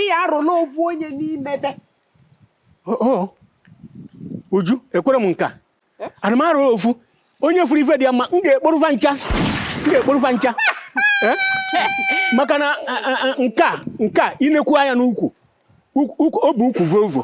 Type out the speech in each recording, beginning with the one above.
ịya arụla ovu onye n'ime ve uju ekwerọ m nka eh? ana m arụ ofu onye furu ife dị ya mma m ga-ekporu fa ncha m ga-ekporu fa ncha eh? maka na nka nka inekwu anya n'ukwu ọ bụ ukwu vovo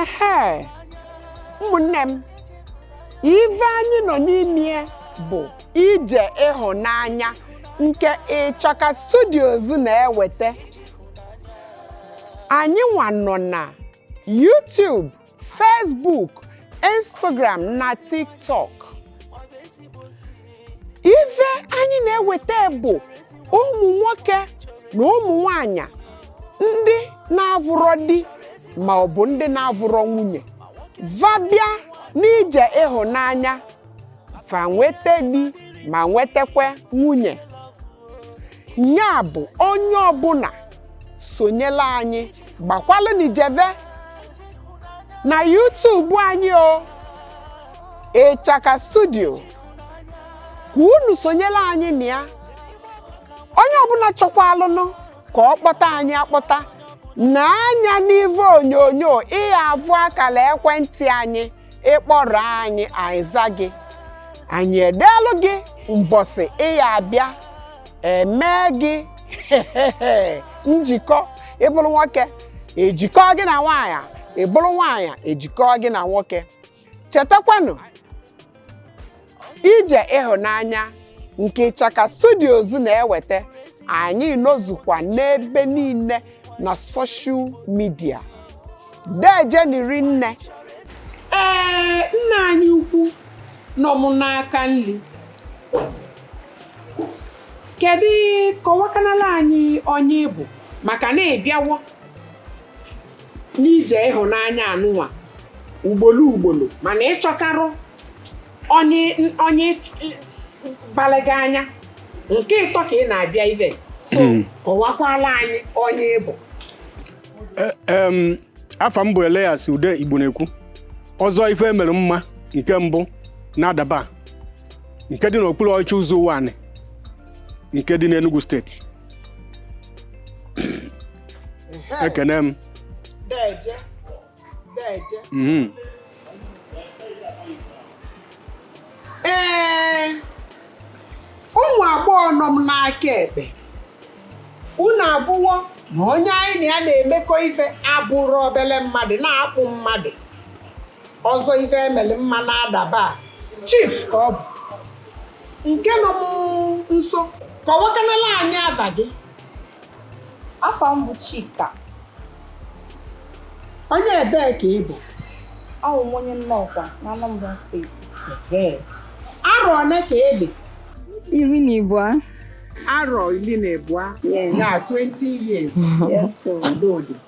ehe ụmụnne m ife anyị nọ n'ime bụ ije ịhụnanya nke Ịchaka Studios na-eweta anyị nwa nọ na YouTube Facebook Instagram na TikTok ife anyị na-eweta bụ ụmụ nwoke na ụmụ nwanyị ndị na-avụrọ di ma ọ bụ ndị na-avụrọ nwunye va bịa n'ije ịhụnanya fa nweta di ma nwetakwa nwunye nya bụ onye ọbụla sonyela anyị gbakwalụ n'ijeve na YouTube anyị o Ịchaka Studio ka unu sonyela anyị na ya onye ọbụla chọkwalụnụ ka ọ kpọta anyị akpọta nee anya n'ive onyonyo ịya avụ akala ekwentị anyị ịkpọrọ anyị anyị aza gị anyị edeelụ gị mbọsị ịya abịa emee gị njikọ ịbụrụ nwoke ejikọ gị na nwaanyị ịbụrụ nwaanyị ejikọ gị na nwoke chetakwanụ ije ịhụnanya nke Ịchaka Studios na-eweta anyị nọzukwa n'ebe niile na soshal midia dejeni rinne ee nna anyị ukwu nọ m n'aka nri kedu kọwakanala anyị onye ịbụ maka na ịbịawo n'ije ịhụnanya anụnwa ugbolo ugbolo mana ịchọtarọ onye onye balụ gị anya nke ịtọ ka ị na-abịa ibe hmm. kọwakwala anyị onye ịbụ e, afa m bụ Elias Ude Igbo na-ekwu Ọzọ ife emere mma nke mbụ na Adaba nke dị n'okpuru ọchịchị Uzo-Uwani nke dị n'Enugu steeti ekene m Deje. Deje. Mhm. Ee, ụmụ agbọghọ nọ m n'aka ekpe. Unu avụwo na onye anyị na ya na-emekọ ife abụrọ obele mmadụ na-akpụ mmadụ. Ọzọ ife emere mma na Adaba. Chief ka ọ bụ. nke nọ m nso kọwakanala anyị afa gị afa m bụ Chika onye ebee ka ị bụ awụ m onye Nnọkwa na Anambra steeti arọ one ka ị dị iri na abụọ arọ iri na abụọ ya 20 years Yes, sir. adịodị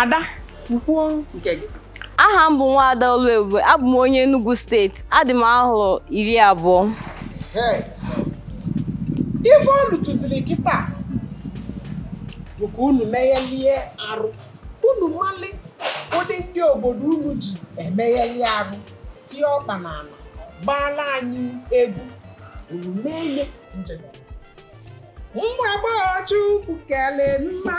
ada kwuo nke gị aha m bụ nwaada Oluebube abụ m onye Enugu steeti adị m arọ iri abụọ ife fọdụziri kịta bụ ka unu meghelie arụ unu mali ụdị ndị obodo unu ji emegheli arụ tie ọkpa na ala gbaala anyị egwu unu mee nwa agbọghọ Chukwu kelụ mma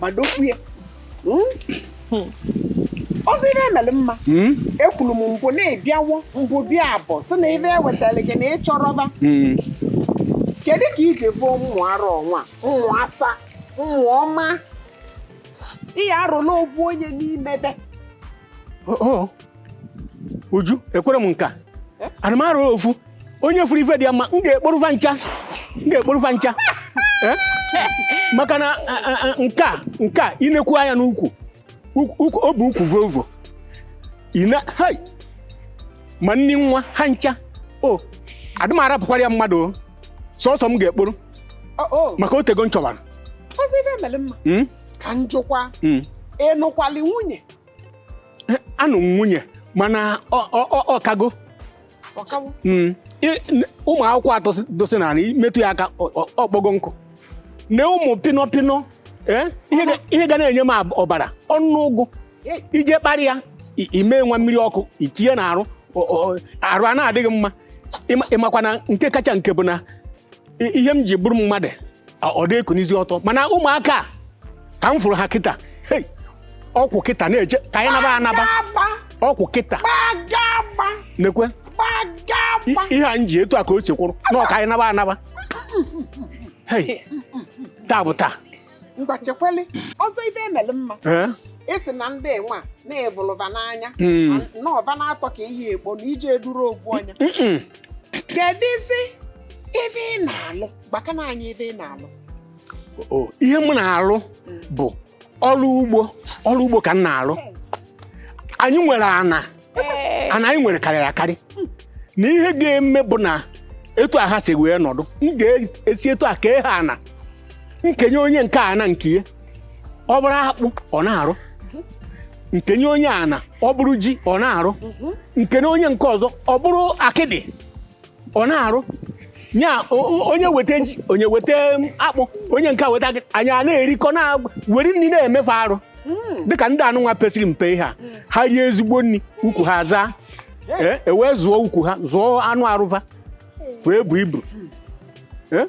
madokwu ya ọzọ ife emelu mma Hmm? ekwuru m mbụ na-ebiawo mbụ bịa abụọ sị na ife ewetara gị na ị chọrọ fa Hmm. kedu ka i ji fụ ụmụ ara ọnwa ụmụ asa ụmụ ọma ị ya-arọlụ ovu onye n'ime fa Oh, oh. uju ekwero m nka adị m arọrọ ofu onye fụrụ ife dị ya mma m ga-ekporo fa ncha m ga-ekporo fa ncha Eh? maka na a- a- a- nke a nke a i nekwu anya n'ukwu ukwu- ukwu- ọ bụ ukwu volvo ina hai ma nni nwa ha ncha o adị m arapụkwara ya mmadụ o. sọsọ m ga-ekporo maka otego m chọbara ọzọ ife emelu mma Mm, ka m jụkwa mm. ị nụkwalụ nwunye anụ m nwunye mana ọ- ọ- ọ- ọ kago ọ kawo Mm. I- n- ụmụ akwụkwọ atọ si- dosi na anị metụ ya aka ọ- ọ- ọ kpọgo nkụ na ụmụ pịnọ pịnọ eh, ihe ga- ihe ga na-enye m ab- ọbara ọnụ ụgụ Ei. i je kparị ya i- i me nwa mmiri ọkụ i tinye na arụ ọ- ọ- arụ ana-adị gị mma Ịma- ị makwa na nke kacha nke bụ na I- ihe m ji bụrụ mmadụ a- ọ dị ekunizi ọtọ mana ụmụaka a, ka m fụrụ ha kịta hei ọ kwụ kịta na-eje ka anyị naba anaba Gbagagba, ọ kwụ kịta gbagagba, nekwe i- gbagagba. ihe a m ji etu a ka o si kwụrụ na ọ ka anyị naba anaba hei taa bụ taa ngwa chekwali ọzọ ife emelu mma Eh? ị sị na ndị nwa na-ebụlụba n'anya Mm. na ọba na-atọ ka ihe ekpo na ije eduru ovu ọnya Mm-mm. kedụzi ife ị na-alụ gwakana anyị ife ị na-alụ Oh, ihe m na-alụ bụ ọrụ ugbo ọrụ ugbo ka m na-alụ anyị nwere ana Ee. ana anyị nwere karịrị akarị na ihe ga-eme bụ na etu a ha si wee nọdụ m ga-esi etu a kee ha ana m kenye onye nke a ana nke ya ọ bụrụ akpụ ọ na-arụ m kenye onye ana ọ bụrụ ji ọ na-arụ m kenye onye nke ọzọ ọ bụrụ akịdị ọ na-arụ nya onye weta ji onye weta akpụ onye nke weta akịdị anyị a na-erikọ na were nri na-emeve arụ hmm. dịka ndị anụnwa pesịrị mpe ihe a hmm. ha rie ezigbo nri ukwu ha zaa eh, ewee zụọ ukwu ha zụọ anụ arụ va fụ ebu ibu eh?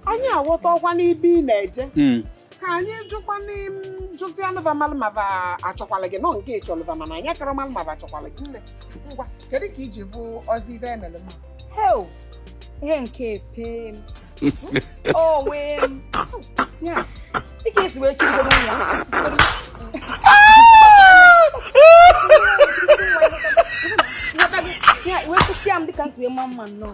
anyị aghọtarọkwa n'ebe ị na-eje hmm. ka anyị jụkwanụ jụzianụ va malụ ma va achọkwala gị nọ nke ị chọlụ va mana anyị akarọ malụ ma va achọkwala gị nne ngwa kedu ka iji bụ ọzi ibe emere m hel ihe nke epe m onwe m ya dịka esi wee chụgo n'ụlọ ya wee kwụsịa m dịka m si wee ma mma nnọọ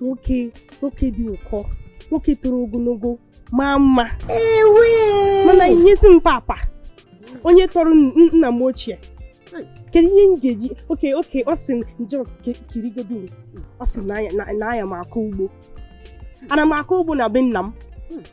nwoke nwoke dị ụkọ nwoke toro ogologo maa mma mana i nyezi m papa onye tọrọ nna m ochie kedu ihe m ga-eji okay okay ọ sị just kirigodo ọ sị na aya m akọ ugbo ana m akọ ugbo na be nna m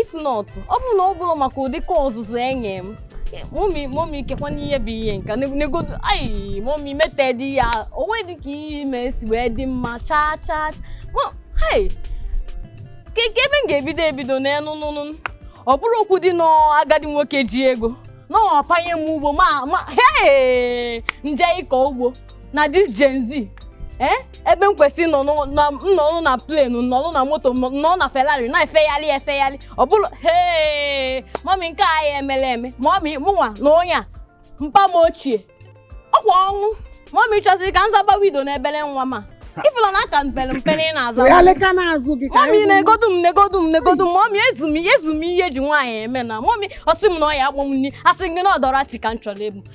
if not ọ bụrụ na ọ bụrọ maka ụdị ka ọzụzụ enye m mummy mummy kekwanụ ihe bụ ihe nka negodu ayi mummy mete dị ya onwe dị ka ihe ime si wee dị mma chaa chaa hei ka ebe m ga-ebido ebido n'elu nụnụ ọ bụrụ okwu dị n'agadi nwoke ji ego na-apanye m ugbo mama hei m je ịkọ ugbo na this Gen Z eh, ebe m kwesịrị nọ n'ụ- na- m nọrọ na plane nọrọ na moto m nọrọ na Ferrari na-efegharị efegharị ọ bụrụ hee mummy nke a ya emere eme mummy mụnwa na onye a mpa m ochie ọkwa ọnwụ mummy chọziri ka m zaba widow n'obere nwa ma ị fụlọ na aka m pere mpe ị na-aza wee aleka n'azụ gị ka mummy anyị hụ. negodu m negodu m negodu m mummy ezu m ezu m ihe eji nwaanyị eme na mummy ọ sị m na ọ ya akpọ m nri asị m gị na ọ Dorothy ka m chọrọ ịbụ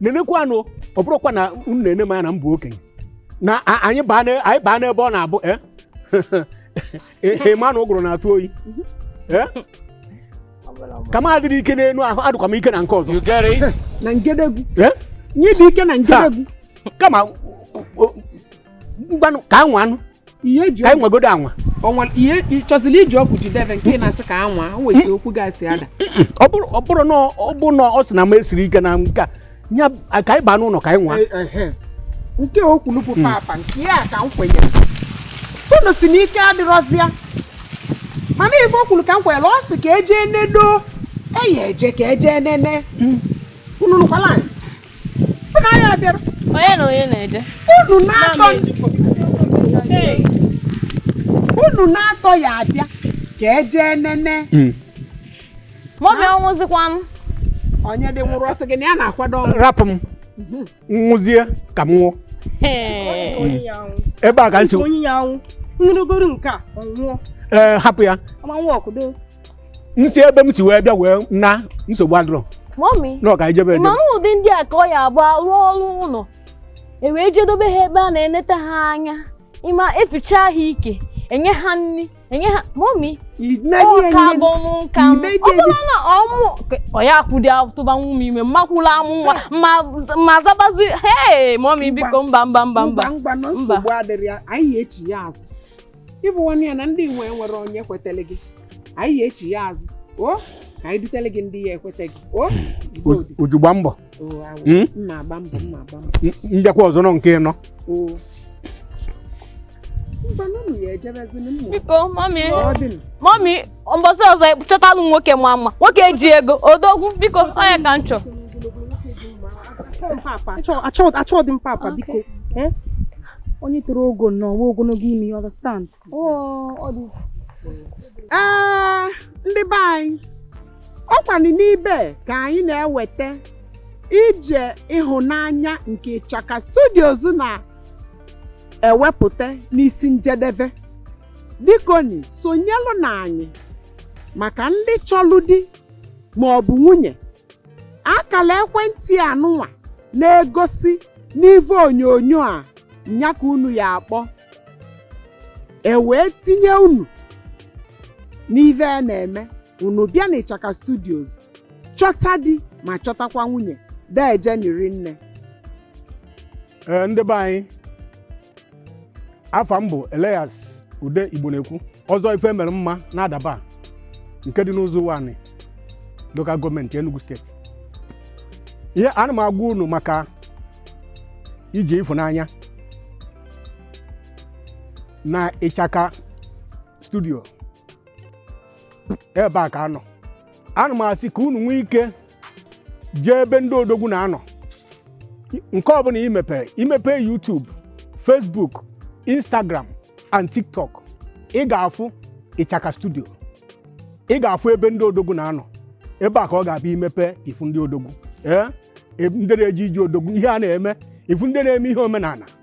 nenekwanụ ọ bụrụkwa na unu na-ene m anya na m bụ okenye na a- anyị baa na- anyị baa n'ebe ọ na-abụ eh? ehe ma na ụgụrụ na-atụ oyi Eh? ka m adịrị ike n'enu ahụ adịkwa m ike na nke ọzọ You get it? na ngedegwu Eh? onye dị ike na ngedegwu kama o- o- ngwanụ ka a nwaanụ ihe eji ka anyị nwegodo anwa o nwere ihe ị chọziri iji okwu jide ebe nke ị na-asị ka anwa o nwere ike okwu gasị ada ọ bụrụ ọ bụrụ na ọ bụ na ọ sị na m esiri ike na nke a ya ka anyị baa n'ụlọ ka anyị nwaa Ehe. nke o kwuru bụ papa nke ya ka m kwenyere unu si n'ike adịrọzịa mana ife o kwuru ka m kwenyere ọ sị ka eje nedo eyi eje ka eje nene unu nụkwala anyị onye na onye na-eje unu naatọ ya abịa ka e jee nene hmm. maọbụ ya nwụzikwa m onye di nwụrụ ọ sọ gị na ya na-akwado rapụ m mhm. nwụzie ka m nwụọ ebe a ka nsi onye ya anwụ nrụgoro nke a ọ nwụọ ee eh, hapụ ya m si ebe m si wee bịa wee na nsogbu adịrọ mọmi na ọ ka i jebe ma ejebe m ụdị ndị a ka ọ ya abụ a rụọrọ ụlọ e wee je dobe ha ebe a na-eneta ha anya ma e ficha ha ike e nye ha nri e nye ha mọmi ọ ka bụ m nka m ime ọ bụrụ na ọ mụ ọ ya kwụdị atụba nwa m ime mmakwụla amụ nwa ma ma zabazi hee mọmi biko mba mba mba mba mba no nsogbu adịrọ ya anyị echiya azụ ị bụ nwanne ya na ndị nwe nwere onye kwetele gị anyị ya echiya azụ o ka anyị dutele gị ndị ya ekweta gị o Uju gba mbọ hmm? m ma agba mbọ m ma agba mbọ m bịakwa ọzọ nọ nke nọ biko mọmi mọmi mbọsị ọzọ chọtalụ nwoke maa mma nwoke ji ego odogwu biko onye ka m chọ achọghị m papa biko eh? onye toro ogo na ọwa ogologo imi you understand ee ndị be anyị ọkwanụ n'ibe ka anyị na-eweta ije ịhụnanya nke Ichaka Studios na-ewepụta n'isi njedebe bikoni sonyelụ na anyị maka ndị chọlụ di ma ọ bụ nwunye akala ekwentị anụnwa na-egosi n'ive onyonyo a nya ka unu ya akpọ e wee tinye unu n'ive a na-eme unu bịa na Ichaka Studios chọta di ma chọtakwa nwunye deje ni rinne Ee, ndị be anyị afa m bụ Elias Ude Igbonekwu Ọzọ ife e mere mma na Adaba nke dị n'Ụzọ Ụwanị local gọọmenti Enugu steeti eh ana m agwa unu maka ije ịfụnanya na Ichaka Studio ebe a ka a nọ ana m asị ka unu nwee ike jee ebe ndị odogwu na-anọ nke ọbụla ị mepere i mepee YouTube Facebook Instagram and TikTok ị ga-afụ Ichaka Studio ị ga-afụ ebe ndị odogwu na-anọ ebe a ka ọ ga-abụ i mepe ị fụ ndị odogwu ee e, ndị na-eje ije odogwu ihe a na-eme ị fụ ndị na-eme ihe omenala